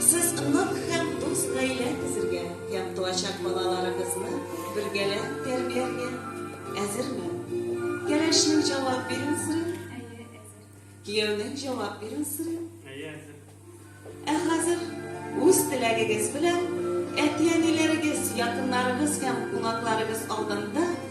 Сез онык һәм дус гаилә төзергә һәм туачак балаларыгызны бергәләп тәрбияләргә әзерме? Кәләшнең җавап бирүен сорыйм. Әйе, әзер. Кияүнең җавап бирүен сорыйм. Әйе, әзер. Ә хәзер үз теләгегез белән әти-әниләрегез, якыннарыгыз һәм кунакларыгыз алдында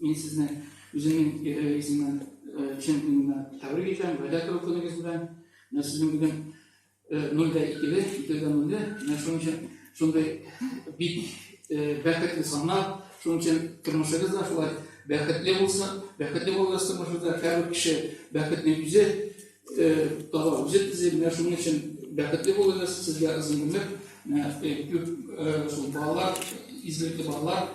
Мин сезне үземнең исемнән чын күңелдән тәбрик итәм, вәдә тору көнегез белән. Менә сезнең бүген нольдә икеле, икеледә нольле. Менә шуның өчен шундый бик бәхетле саннар, шуның өчен тормышыгыз да шулай бәхетле булсын, бәхетле булыгыз тормышыгызда. Һәрбер кеше бәхетне үзе таба, үзе төзи. Менә шуның өчен бәхетле булыгыз, сезгә озын гомер, күп шул балалар, излекле балалар.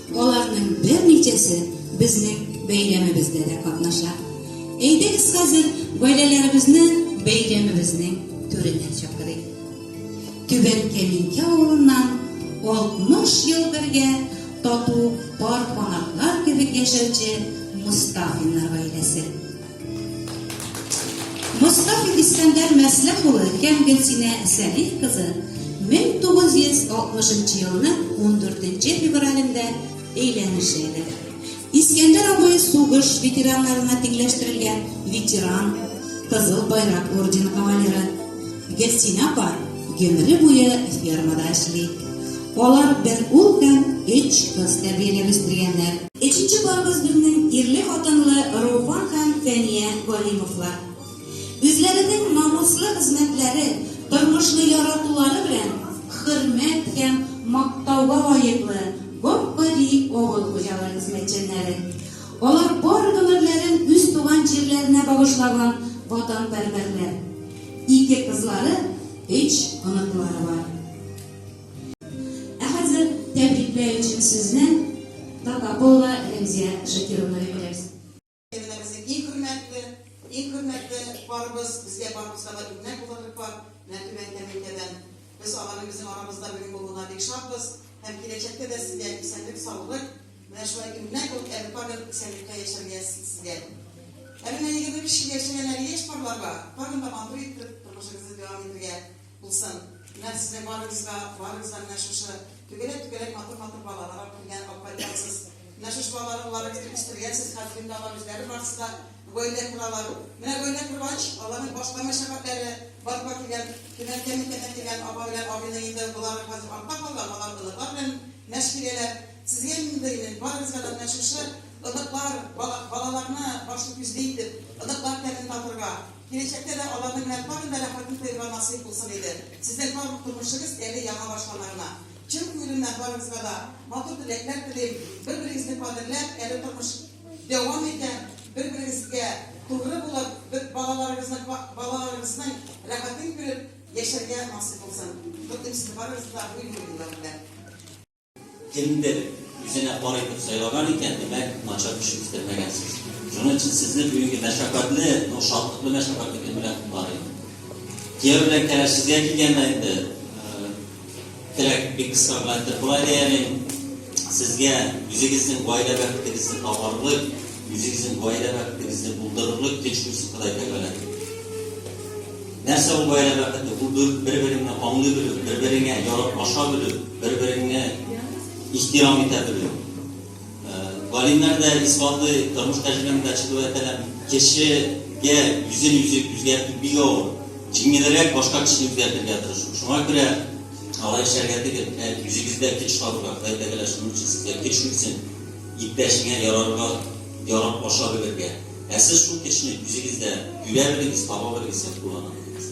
Аларның берничәсе безнең бәйрәмебездә дә катнаша. Әйдәгез хәзер гаиләләребезне бәйрәмебезнең түренә чакырыйк. Түбән Кәминкә авылыннан 60 ел бергә тату пар канатлар кебек яшәүче Мустафиннар гаиләсе. Мостафин Искәндәр Мәслих улы һәм Гөлсинә Сәлих кызы 1960 елның 14 февралендә өйләнешәләр. Искәндәр абый сугыш ветераннарына тиңләштерелгән ветеран Кызыл Байрак ордены кавалеры. Гөлсинә апа гомере буе фермада эшли. Алар бер ул һәм өч кыз тәрбияләп үстергәннәр. Икенче парыбыз безнең ирле-хатынлы Раупан һәм Фәния Галимовлар. Үзләренең намуслы хезмәтләре, тормышны яратулары белән хөрмәт һәм мактауга лаеклы гап-гади авыл хуҗалыгы хезмәтчәннәре. Алар бар гомерләрен үз туган җирләренә багышлаган ватанпәрвәрләр. Ике кызлары, өч оныклары бар. Ә хәзер тәбрикләү өчен сүзне Татапова Рәмзия Шакировна бирәбез. Иң хөрмәтле, иң хөрмәтле барыбыз, безгә барыбызга да үрнәк булырлык бар, менә Түбән Кама өлкәдән. Без аларның безнең арабызда бүген булуына бик шатбыз һәм киләчәктә дә сезгә исәнлек, саулык, менә шулай үрнәк булып әле тагын исәнлектә яшәргә сезгә. Ә менә егерме биш ел яшәгән әле яшь парларга тагын да матур итеп тормышыгызны дәвам итергә, Булсын. Менә сезгә барыгызга, барыгызга менә шушы түгәрәк-түгәрәк матур-матур балалар алып килгән, алып кайткансыз. Менә шушы балаларны боларны үстергәнсез, хәзер инде алар үзләре барысы да гаилә коралар. Менә гаилә коргач, аларның башка мәшәкатьләре бар бар дигән, Түбән Кәми Тәмәт дигән апа белән абыйның инде болар хәзер артта калган, алар оныклар белән мәш киләләр. Сезгә мин белмим, барыгызга да менә шушы оныклар, бала, балаларны башлы-күзле итеп, оныклар тәмен татырга, Киләчәктә дә аларның белән тагын да рәхәт итәргә насыйп булсын иде. Сезнең барлык тормышыгыз әле яңа башланарына. Чын күңелемнән барыгызга да матур теләкләр телим, бер-берегезне кадерләп, әле тормыш дәвам итә, бер-берегезгә тугры булып, бер балаларыгызны балаларыгызның рәхәтен күреп яшәргә насыйп булсын. Котлыйм сезне барыгызны да бу юбилейлар белән. Кемдер үзенә пар итеп сайлаган икән, димәк, начар кеше үстермәгәнсез. Шуның өчен сезне бүгенге мәшәкатьле, ну, шатлыклы мәшәкатьле көн белән котларым. Кияү белән кәләшезгә килгәндә инде теләк бик кыска гына итеп болай диямен, сезгә үзегезнең гаилә бәхетегезне табарлык, үзегезнең гаилә бәхетегезне булдырырлык көч бирсен Ходай Тәгалә. Нәрсә ул гаилә бәхете? Бу бер-береңне аңлый белү, бер-береңә яраклаша белү, бер-береңне ихтирам итә белү. Галимнәр дә исбатлый, тормыш тәҗрибәмдә чыгып әйтәләр, кешегә үзен үзе үзгәртү бик авыр. Җиңелрәк башка кешене үзгәртергә тырышу. Шуңа күрә алай эшләргә түгел, ә үзегездә көч табырга, Ходай Тәгалә шуның өчен сезгә көч бирсен, иптәшеңә ярарга ярып аша белергә. Ә сез шул көчне үзегездә күрә белегез, таба белегез һәм куллана белегез.